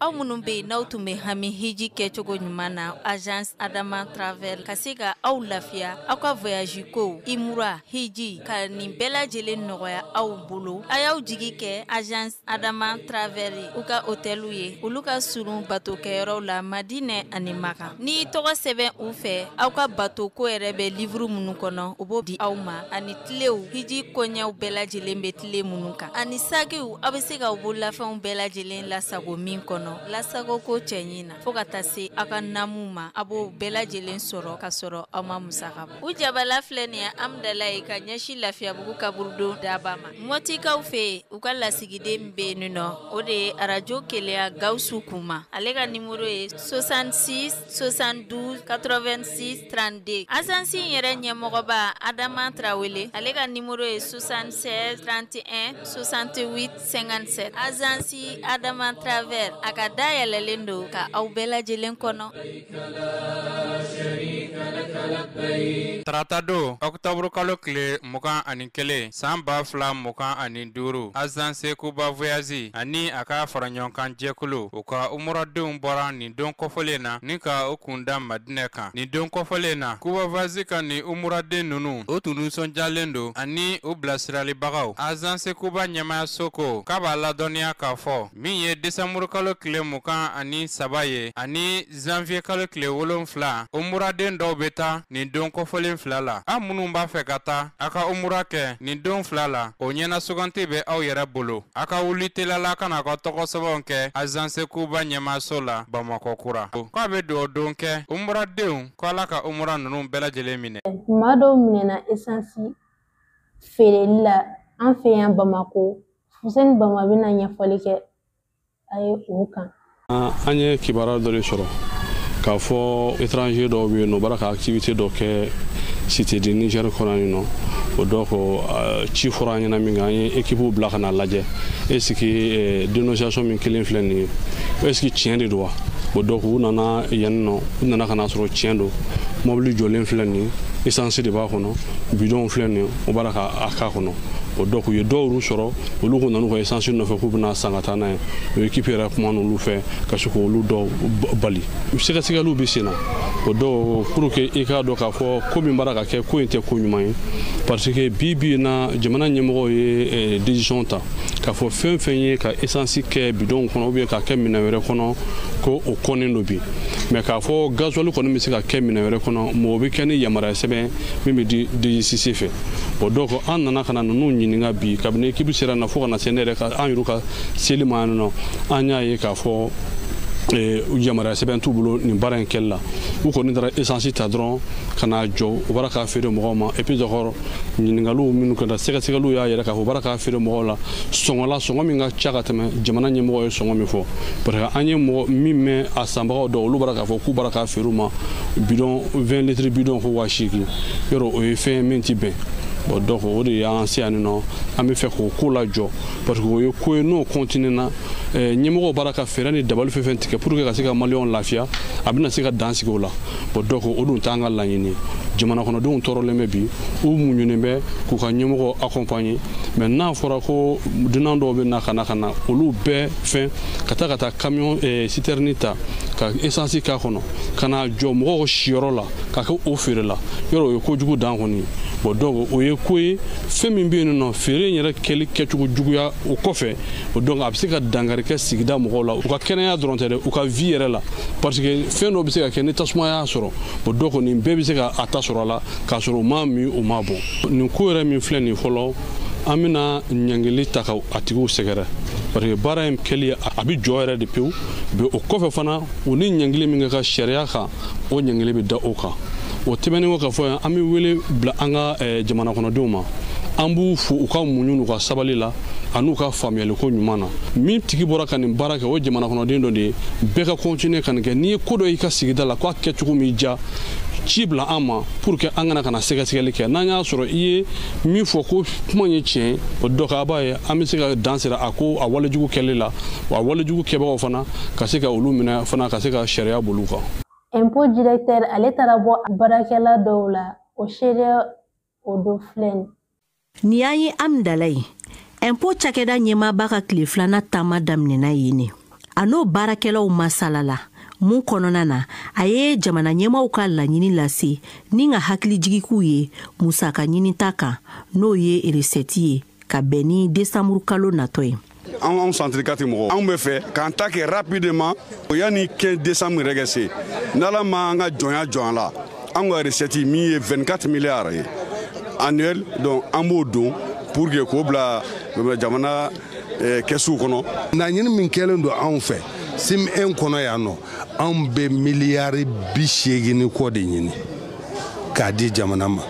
aw minnu bɛ yen n'aw tun bɛ hami hiji kɛ cogo ɲuman na azansi adama travel ka se ka aw lafiya aw ka voyazi ko umura hiji ka nin bɛɛ lajɛlen nɔgɔya aw bolo a y'aw jigi kɛ azansi adama travel u ka otɛliw ye olu ka surun batokɛyɔrɔw la madinɛ ani maka n'i tɔgɔ sɛbɛn u fɛ aw ka bato ko yɛrɛ bɛ liwuru minnu kɔnɔ u b'o di aw ma ani tilew hiji koɲɛw bɛɛ lajɛlen bɛ ti le minnu kan ani sakiw aw bɛ se ka u bololafɛnw bɛɛ lajɛlen lasago min kɔnɔ lasago ko cɛɲi na fo ka taa se aw ka namu ma a b'o bɛɛ lajɛlen sɔrɔ ka sɔrɔ aw ma musaka bɔ u jabala filɛ nin ye amidalaye ka ɲɛsin lafiyabugu kaburudon daba ma mɔtikaw fɛ yen u ka lasigiden bɛ yen nin nɔ o de ye arajo kelenya gawusu kuma ale ka nimoro ye sosansi 72 86 32 azansi in yɛrɛ ɲɛmɔgɔba adama tarawele ale ka nimoro ye 76 31 68 57 azansi adama travel a ka da yɛlɛlen don ka aw bɛɛ lajɛlen kɔnɔ tarata don ɔkutɔburu kalo tile mugan ani kelen san ba fila mugan ani duuru azanse kuba voyazi ani a ka faraɲɔgɔnkan jɛkulu u ka umuradenw bɔra nin don kɔfɔlen na ni ka u kun da madinɛ kan nin don kɔfɔlen na kuba voyazi ka nin umuraden nunu u tun nisɔndiyalen don ani u bilasiralibagaw azanse kuba ɲɛmayaso ko k'a b'a ladɔnniya k'a fɔ min ye desanburukalo tile mugan ani saba ye ani zanwiyekalo tile wolonfila umuraden dɔw bɛ taa nin don kɔfɔlen fila la aw minnu b'a fɛ ka taa a ka umura kɛ nin don fila la o ɲɛnasuganti bɛ aw yɛrɛ bolo A ka wuli teliya la ka na a ka tɔgɔ sɛbɛnw kɛ azanse kuba ɲɛmaaso la bamakɔ kura k'a bɛ dugawu don kɛ umuradenw ko ala ka umura ninnu bɛɛ lajɛlen minɛ maa dɔw minɛna esansi feereli la an fɛ yan bamakɔ fuseni bama bɛna ɲɛfɔli kɛ a ye o kan an ye kibaruya dɔ de sɔrɔ k'a fɔ étranger dɔw bɛ yen nɔ b'a la ka activité dɔ kɛ cité du niger kɔnɔ nin nɔ o donc ci fɔra an ɲɛna minkɛ an ye ekipu bila ka na lajɛ est ce que dénonciation min kɛlen filɛ nin ye est ce que tiɲɛ de don wa o donc u nana yan nin nɔ u nana ka na sɔrɔ tiɲɛ don mɔbili jɔlen filɛ nin ye essence de b'a kɔnɔ bidɔnw filɛ nin ye o b'a la ka a k'a kɔnɔ o donc u ye dɔw y'u sɔrɔ olu k'u nana u ka esansi nɔfɛ k'u bɛna san ka taa n'a ye o ekipi yɛrɛ kuman'olu fɛ ka se k'olu dɔw bali sɛgɛsɛgɛliw bɛ sen na o donc pour que i k'a dɔn k'a fɔ ko min b'a la ka kɛ ko in tɛ ko ɲuman ye parce que bi bi in na jamana ɲɛmɔgɔw ye eh, décision ta k'a fɔ fɛn fɛn ye ka esansi kɛ bidonw kɔnɔ ou bien k'a kɛ minɛn wɛrɛ kɔnɔ ko o kɔnnen don bi mais k'a fɔ gazuwali kɔni bɛ se ka kɛ minɛn wɛrɛ kɔnɔ mɔgɔ bɛ kɛ ni yamaruya sɛbɛn min bɛ di dgcc fɛ o dɔw ko an nana ka na ninnu ɲininka bi kabini ekipu sera na fo ka na se ne yɛrɛ ka an yɛrɛ ka seli ma yan nɔ an y'a ye k'a fɔ eh, yamaruya sɛbɛn t'u bolo nin baara in kɛli la u kɔni taara esansi ta dɔrɔn ka n'a jɔ u b'a k'a feere mɔgɔw ma et puis d'accord ɲininkaliw minnu kɛra sɛgɛsɛgɛliw y'a yira k'a fɔ u b'a k'a feere mɔgɔw la sɔngɔ la sɔngɔ min ka ca ka tɛmɛ jamana ɲɛmɔgɔ ye sɔngɔ min fɔ parce que an ye mɔgɔ min mɛn a sanbagaw dɔw olu b'a k'a fɔ k'u b'a k'a feere u ma bidɔn 20 litiri bidɔn ko waa seegin yɔrɔ o ye fɛn min ti bɛn bon donc o de y'an se yan nɔ an bɛ fɛ k'o ko lajɔ parce que o ye ko ye n'o continue na eh, ɲɛmɔgɔw b'a la ka fɛɛrɛ ni dabali fɛn fɛn tigɛ pour que ka se ka maliyɛnw lafiya a bɛna se ka dan sigi o la bon donc o dun t'an ka laɲini jamanakɔnɔdenw tɔɔrɔlen bɛ bi u muɲunen bɛ k'u ka ɲɛmɔgɔ accompagner mais n'a fɔra ko dunan dɔw bɛ na ka na ka na olu bɛɛ fɛn ka taa ka taa camion eh, citerne ta ka essence k'a kɔnɔ ka na jɔ mɔgɔw siyɔrɔ la k'a kɛ o feere la yɔrɔ o ye ko jugu dan kɔni bon donc o ye ko ye fɛn min bɛ yen nɔ feere in yɛrɛ kɛli kɛcogo juguya o kɔfɛ o donc a bɛ se ka dankari kɛ sigida mɔgɔw la u ka kɛnɛya dɔrɔn tɛ dɛ u ka vie yɛrɛ la parce que fɛn dɔ bɛ se ka kɛ ni tasuma y'a sɔrɔ o donc nin bɛɛ bɛ se ka a ta sɔrɔ a la k'a sɔrɔ u m'a min u m'a bɔn nin ko yɛrɛ min filɛ nin fɔlɔ an bɛna ɲangili ta ka a tigiw sɛgɛrɛ parce que baara in kɛli a bɛ jɔ yɛrɛ de pewu o kɔfɛ fana u ni ɲangili min ka kan sariya kan o ɲangili bɛ da o kan o tɛmɛnen kɔ ka fɔ yan an bɛ wele bila an ka eh, jamana kɔnɔdenw ma an b'u fo u ka muɲu n'u ka sabali la an'u ka faamuyaliko ɲuman na min tigi bɔra ka nin baara kɛ o jamana kɔnɔden dɔ de ye bɛɛ ka kɔntine ka nin kɛ n'i ye ko dɔ y'i ka sigida la k'a kɛcogo m'i diya ci bila an ma pour que an ka na ka na sɛgɛsɛgɛli kɛ n'an y'a sɔrɔ i ye min fɔ k'o kuma ye tiɲɛ o donc a b'a ye an bɛ se ka dan sigi a ko a walejugu kɛli la wa walejugu kɛbagaw fana ka se ka olu minɛ fana ka se ka sariya boli u kan impôt directeur ale taara bɔ baarakɛla dɔw la o seereya o don filɛ nin nin y'an ye hamdallaye impôt cakɛda ɲɛmaaba ka tile filanan taama daminɛna yen ne a n'o baarakɛlaw masalala mun kɔnɔna na a ye jamana ɲɛmaaw ka laɲini lase ni ka hakilijigi k'u ye musaka ɲinita kan n'o ye recette ye ka bɛn ni desanburukalo natɔ ye anw anw centre 4 mɔgɔ anw bɛ fɛ k'an ta kɛ rapidement o yanni 15 décembre yɛrɛ ka se n'ala ma an ka jɔnya jɔ an la an ka recette min ye 24 milliards ye annuel donc an b'o don pour que k'o bila jamana eh, kɛsuw kɔnɔ laɲini min kɛlen don anw fɛ cime 1 kɔnɔ yan nɔ anw bɛ miliyari bi seegin ni kɔ de ɲini k'a di jamana ma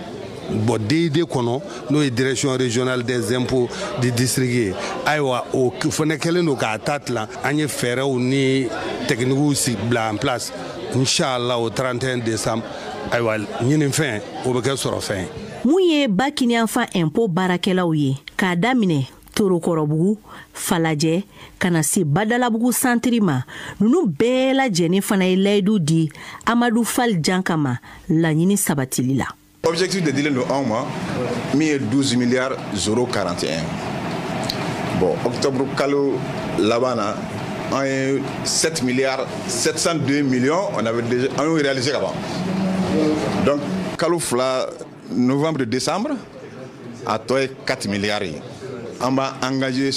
bon DID kɔnɔ n'o ye direction régionale des impôts du district ye ayiwa o fana kɛlen don k'a ta tilan an ye fɛɛrɛw ni techniques bila en place inchallah au 31 décembre ayiwa ɲininfɛn o bɛ kɛ sɔrɔfɛn ye mun ye ba kiniyanfan impôt baarakɛlaw ye k'a daminɛ torokɔrɔbugu falajɛ ka na se badalabugu santiri ma ninnu bɛɛ lajɛlen fana ye layidu di amadu fal janka ma laɲini sabatili la objectif de dilen don anw ma min ye 12 milliard zéro 41 bon octobre kalo laban na an ye 7 milliard 702 millions on avait déjà an y'o réaliser ka ban donc kalo fila novembre décembre a tɔ ye 4 milliards ye an b'a engagé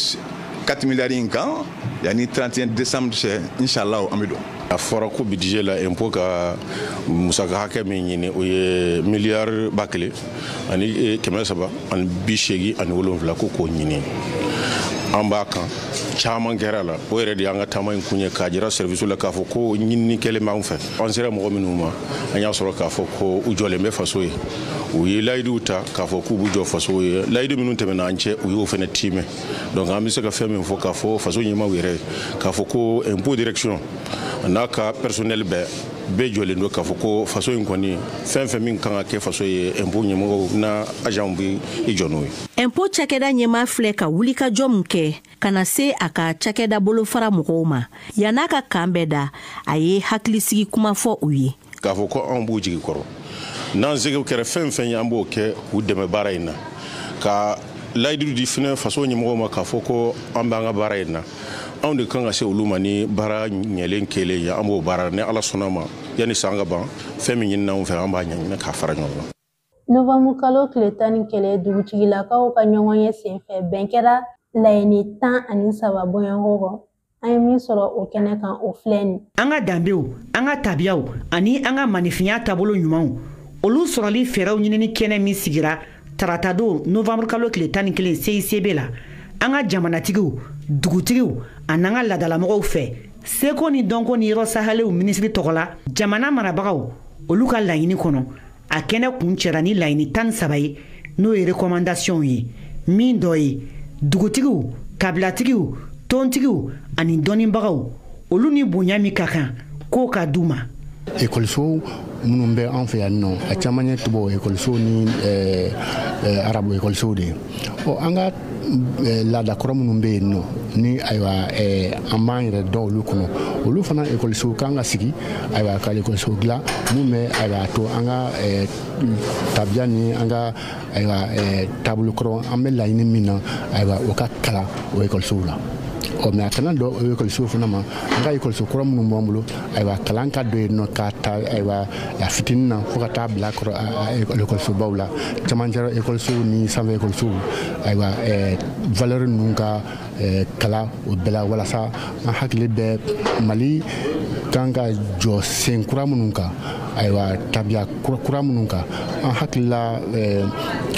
4 milliards in kan yanni 31 décembre cɛ inshallah an bɛ don a fɔra ko budget la impôt ka musaka hakɛ min ɲini o ye miliyari ba kelen ani e, kɛmɛ saba ani bi seegin ani wolonwula ko k'o ɲini an b'a kan caman kɛra a la o yɛrɛ de y'an ka taama in kun ye k'a jira sɛriwisiw la k'a fɔ ko ɲinini kɛlen b'an fɛ an sera mɔgɔ minnu ma an y'a sɔrɔ k'a fɔ ko u jɔlen bɛ faso ye u ye layiduw ta k'a fɔ k'u b'u jɔ faso ye layidu minnu tɛmɛna an cɛ u y'o fana tiimɛ donc an bɛ se ka fɛn min fɔ k'a fɔ faso ɲɛmaaw yɛrɛ k'a fɔ ko impôt direction n'a ka personnel bɛɛ bɛɛ jɔlen don k'a fɔ ko faso in kɔni fɛn fɛn min kan ka kɛ faso ye impôt ɲɛmɔgɔw n'a agentw bɛ i jɔ n'o ye impôt cakɛda ɲɛmaa filɛ ka wulikajɔ min kɛ ka na se a ka cakɛda bolofara mɔgɔw ma yann'a ka kan bɛɛ da a ye hakilisigi kuma fɔ u ye k'a fɔ ko anw b'u jigi kɔrɔ n'an sekow kɛra fɛn fɛn ye an b'o kɛ k'u dɛmɛ baara in na ka layidu di fɛnɛ faso ɲɛmɔgɔw ma k'a fɔ ko an b'an ka baara in na anw de kan ka se olu ma ni baara ɲɛlen kelen ye an b'o baara ni ala sɔnna ma yanni san ka ban fɛn min ɲinina anw fɛ an b'a ɲɛɲini k'a fara ɲɔgɔn kan Nowanburu kalo tile tan ni kelen dugutigilakaw ka ɲɔgɔn ye senfɛ bɛn kɛra laɲini tan ani saba bɔɲɔgɔnko kan an ye min sɔrɔ o kɛnɛ kan o filɛ nin an ka danbew an ka tabiyaw ani an ka maaninfinya taabolo ɲumanw olu sɔrɔli fɛɛrɛw ɲinini kɛnɛ min sigira taratadon novanburu kalo tile tan ni kelen CICB la an ka jamanatigiw dugutigiw an'an ka laadalamɔgɔw fɛ seko ni dɔnko ni yɔrɔ sahaliw minisiri tɔgɔ la jamana marabagaw olu ka laɲini kɔnɔ a kɛnɛ kuncɛra ni laɲini tan ni saba ye n'o ye recommandations ye min dɔ ye dugutigiw kabilatigiw tɔntigiw ani dɔnnibagaw olu ni bonya min ka kan k'o ka d'u ma ekɔlisow minnu bɛ an fɛ yanninɔ a caman ye tubabu ekɔlisow ni eh, eh, arabu ekɔlisow de ye ɔ an ka eh, laada kɔrɔ minnu bɛ yen nɔ ni ayiwa eh, an b'an yɛrɛ dɔn olu kɔnɔ olu fana ekɔlisow kan ka sigi ayiwa ka ekɔlisow dilan min bɛ ayiwa a to an ka eh, tabiya ni an ka ayiwa taabolo kɔrɔ an bɛ laɲini min na ayiwa o ka kalan o ekɔlisow la ɔ mɛ a kana dan o ekɔlisow fana ma an ka ekɔliso kɔrɔ minnu b'an bolo ayiwa kalan ka don yen nɔ k'a ta ayiwa a fitinin na fo ka taa bila ekɔlisobaw la camancɛ ekɔlisow ni sanfɛ ekɔlisow ayiwa valeur ninnu ka kalan o bɛɛ la walasa an hakili bɛ mali kan ka jɔ sen kura minnu kan ayiwa tabiya kura minnu kan an hakilila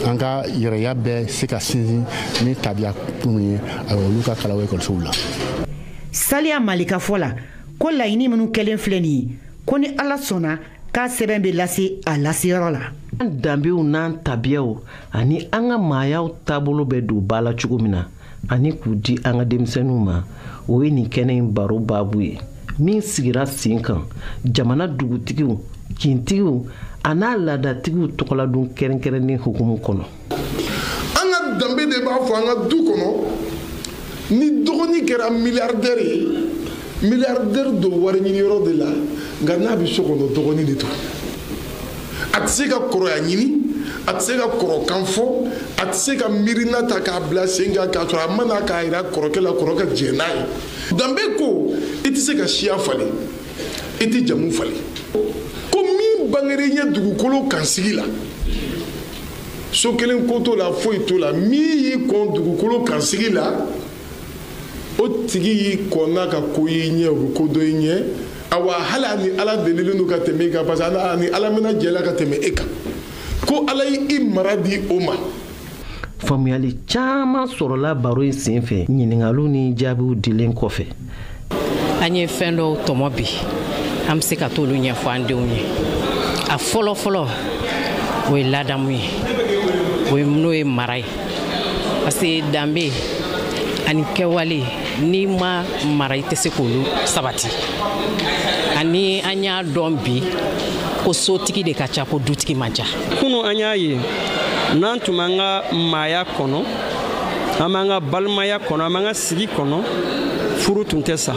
an ka yɛrɛya bɛ se ka sinsin ni tabiya minnu ye ayiwa olu ka kalan o ekɔlisow la saliya male ka fɔ la ko laɲini minnu kɛlen filɛ nin ye ko ni ala sɔnna k'a sɛbɛn bɛ lase a laseyɔrɔ la an danbew n'an tabiyaw ani an ka maayaw taabolo bɛ don ba la cogo min na ani k'u di an ka denmisɛnninw ma o ye nin kɛnɛ in baro baabu ye min sigira sen kan jamana dugutigiw kintigiw a n'a laadatigiw tɔgɔladon kɛrɛnkɛrɛnnen hukumu kɔnɔ an ka danbe de b'a fɔ an ka du kɔnɔ ni dɔgɔnin kɛra miliyardɛri ye miliyardɛri don wari ɲini yɔrɔ de la nka n'a bɛ so kɔnɔ dɔgɔnin de don a tɛ se ka kɔrɔya ɲini a tɛ se ka kɔrɔkan fɔ a tɛ se ka miirina ta k'a bila sen kan k'a sɔrɔ a ma na k'a jira kɔrɔkɛ la kɔrɔ ka jɛn n'a ye danbe ko i tɛ se ka siya falen i tɛ jamu falen ko min bangera i ɲɛ dugukolo kansigi la so kelen ko t'o la foyi t'o la min y'i kɔn dugukolo kansigi la o tigi y'i kɔn n'a ka ko y'i ɲɛ o bɛ ko dɔn i ɲɛ awa hali a ni ala delilen don ka tɛmɛ i kan parce que a ni ala mɛnna jɛ la ka tɛmɛ e kan ko ala y'i mara di o ma faamuyali caman sɔrɔla baro in senfɛ ɲiningaliw ni jaabiw dilen kɔfɛ an ye fɛn dɔw tɔmɔ bi an bɛ se ka t'olu ɲɛfɔ an denw ye a fɔlɔ fɔlɔ o ye ladamu ye o ye n'o ye mara ye parce que danbe ani kɛwale n'i ma mara i tɛ se k'olu sabati ani an y'a dɔn bi ko sotigi de ka ca ko dutigi man ca kunu an y'a ye n'an tun b'an ka maaya kɔnɔ an b'an ka balimaya kɔnɔ an b'an ka sigi kɔnɔ furu tun tɛ sa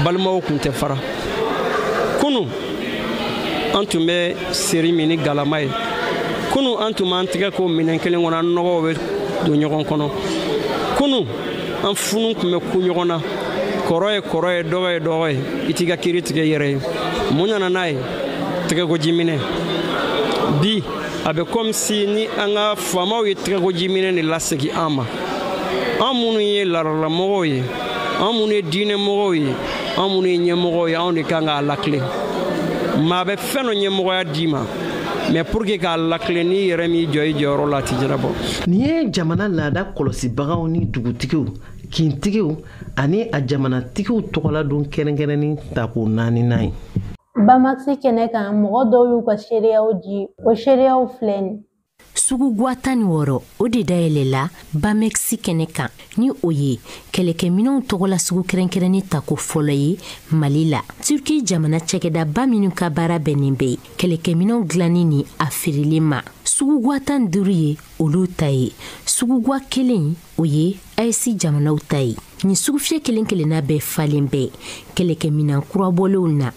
balimaw tun tɛ fara kunu an tun bɛ seri min ni galama ye kunu an tun b'an tɛgɛ ko minɛn kelen kɔnɔ an nɔgɔw bɛ don ɲɔgɔn kɔnɔ kunu an funu tun bɛ kun ɲɔgɔn na kɔrɔ ye kɔrɔ ye dɔgɔ ye dɔgɔ ye i t'i ka kiri tigɛ i yɛrɛ ye mun nana n'a ye tɛgɛkojiminɛn bi a bɛ comme si ni an ka faamaw ye tɛgɛkojiminɛ de lasegin an ma an minnu ye laadalalamɔgɔw ye an minnu ye diinɛmɔgɔw ye an minnu ye ɲɛmɔgɔw ye anw de kan k'a latilen maa bɛ fɛn dɔ ɲɛmɔgɔya d'i ma mais pour que k'a latilen n'i yɛrɛ m'i jɔ i jɔyɔrɔ la a tɛ ɲɛnabɔ nin ye jamana laada kɔlɔsibagaw ni dugutigiw kintigiw ani a jamanatigiw tɔgɔla don kɛrɛnkɛrɛnnen tako naaninan ye Bamɛkisi kɛnɛ kan mɔgɔ dɔw y'u ka seereyaw di o seereyaw filɛ nin sugu gwa tan ni wɔɔrɔ o de dayɛlɛla bamɛkisi kɛnɛ kan ni o ye kɛlɛkɛminɛw tɔgɔla sugu kɛrɛnkɛrɛnnen tako fɔlɔ ye mali la turki jamana cakɛdaba minnu ka baara bɛnnen bɛ kɛlɛkɛminɛw dilanni ni a feereli ma sugu gwa tan ni duuru ye olu ta ye sugu gwa kelen o ye AES jamanaw ta ye nin sugufiyɛ kelen kelenna bɛɛ falen bɛ kɛlɛkɛminan kurabɔlenw na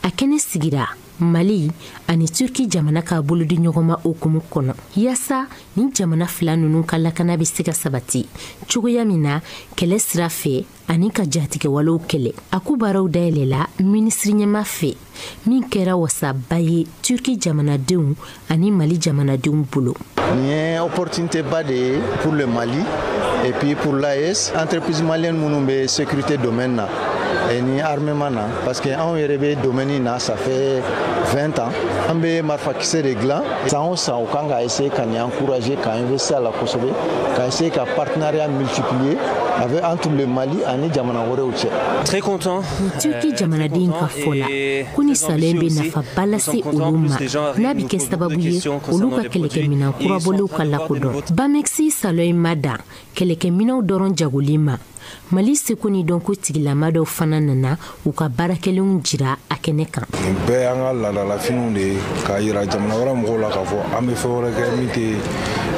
a kɛnɛ sigira mali ani turki jamana ka bolodiɲɔgɔnma hukumu kɔnɔ yaasa nin jamana fila ninnu ka lakana bɛ se ka sabati cogoya min na kɛlɛ sira fɛ ani ka jatigɛwalew kɛlɛ a ko baaraw dayɛlɛla minisiriɲɛmaa fɛ min kɛra wasaba ye turki jamanadenw ani mali jamanadenw bolo nin ye opportunité ba de ye pour le mali et puis pour l'AES entreprise malienne minnu bɛ sécurité domaine na ni armement na parce que anw yɛrɛ bɛ domaine in na ça fait 20 ans an bɛ marifakisɛ de dilan san o san u kan ka essayer ka nin encourager ka investir a la kosɛbɛ ka essayer ka partenariat multiplier avec entre le Mali ani jamana wɛrɛw cɛ. Très content. Turki euh, jamanaden ka fɔ la ko nin salon in bɛ nafaba lase olu ma n'a bɛ kɛ sababu ye olu ka kɛlɛkɛminɛn kurabɔlenw ka lakodɔn. Bamexi salon in ma dan kɛlɛkɛminɛnw dɔrɔn jagoli ma mali seko ni dɔnko tigilama dɔw fana nana u ka baarakɛlenw jira a kɛnɛ kan nin bɛɛ y'an ka laadalafiniw de ye k'a yira jamana wɛrɛ mɔgɔw la k'a fɔ an bɛ fɛn wɛrɛ kɛ min tɛ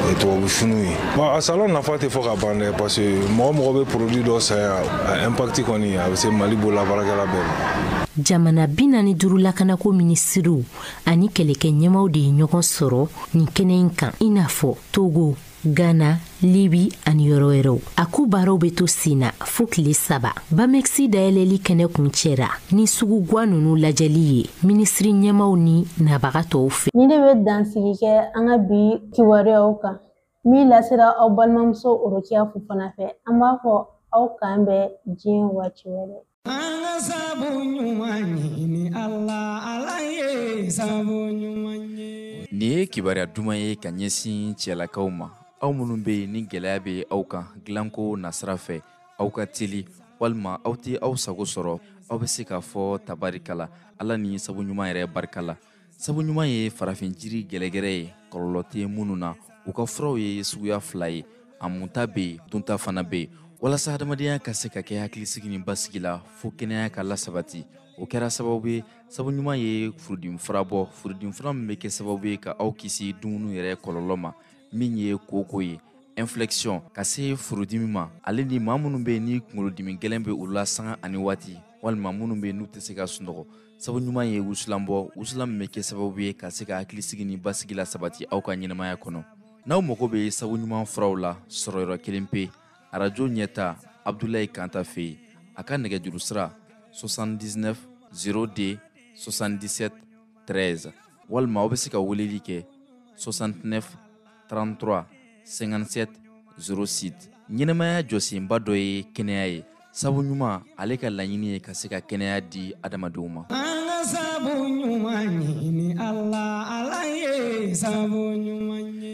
eh, tubabu finiw ye bon a salon nafa tɛ fɔ ka ban dɛ parce que mɔgɔ o mɔgɔ bɛ produit dɔ san yan a impact kɔni a bɛ se mali bolabaarakɛla bɛɛ ma jamana bi naani duuru lakanako minisiriw ani kɛlɛkɛ ɲɛmaaw de ye ɲɔgɔn sɔrɔ nin kɛnɛ in kan i n'a fɔ togo Ghana, Libi ani yɔrɔ wɛrɛw a ko baaraw bɛ to sen na fo tile saba bamɛkisi dayɛlɛli kɛnɛ kuncɛra ni sugu gwa ninnu lajɛli ye minisiri ɲɛmaaw ni nabaga tɔw fɛ nin de bɛ dansigi kɛ an ka bi kibaruyaw kan min lasera aw balimamuso Orokiya Fofana fɛ an b'a fɔ aw k'an bɛn diɲɛ waati wɛrɛ An ka sabu ɲuman ɲini Ala, Ala ye sabu ɲuman ye. Nin ye kibaruya duman ye ka ɲɛsin cɛlakaw ma, aw minnu bɛ yen ni gɛlɛya bɛ aw kan dilanko nasira fɛ, aw ka teli walima aw tɛ aw sago sɔrɔ, aw bɛ se k'a fɔ tabaarikala, Ala ni sabu ɲuman yɛrɛ barika la. sabu ɲuman ye farafin jiri gɛlɛgɛrɛ ye kɔlɔlɔ tɛ minnu na u ka furaw ye suguya fila ye a munta bɛ yen dunta fana bɛ yen walasa hadamadenya ka se ka kɛ hakilisigi ni basigi la fo kɛnɛya ka lasabati o kɛra sababu ye sabu ɲuman ye furudimi fura bɔ furudimi fura min bɛ kɛ sababu ye ka aw kisi dumuni yɛrɛ kɔlɔlɔ ma min ye kooko ye infection ka se furudimi ma ale ni maa minnu bɛ yen ni kunkolodimi gɛlɛn bɛ u la sanga ani waati walima minnu bɛ yen n'u tɛ se ka sunɔgɔ sabu ɲuman ye wusulan bɔ wusulan min bɛ kɛ sababu ye ka se ka hakilisigi ni basigi lasabati aw ka ɲɛnamaya kɔnɔ n'aw mago bɛ sabu ɲuman furaw la sɔrɔyɔrɔ kelen pe arajo ɲɛta abdulayi kanta fɛ yen a ka nɛgɛjuru sira 79 02 77 13 walima aw bɛ se ka weleli kɛ 69 33 57 06 ɲɛnamaya jɔsenba dɔ ye kɛnɛya ye sabu ɲuman ale ka laɲini ye ka se ka kɛnɛya di adamadenw ma sabu ɲuman ɲini ala ala ye sabu ɲuman ye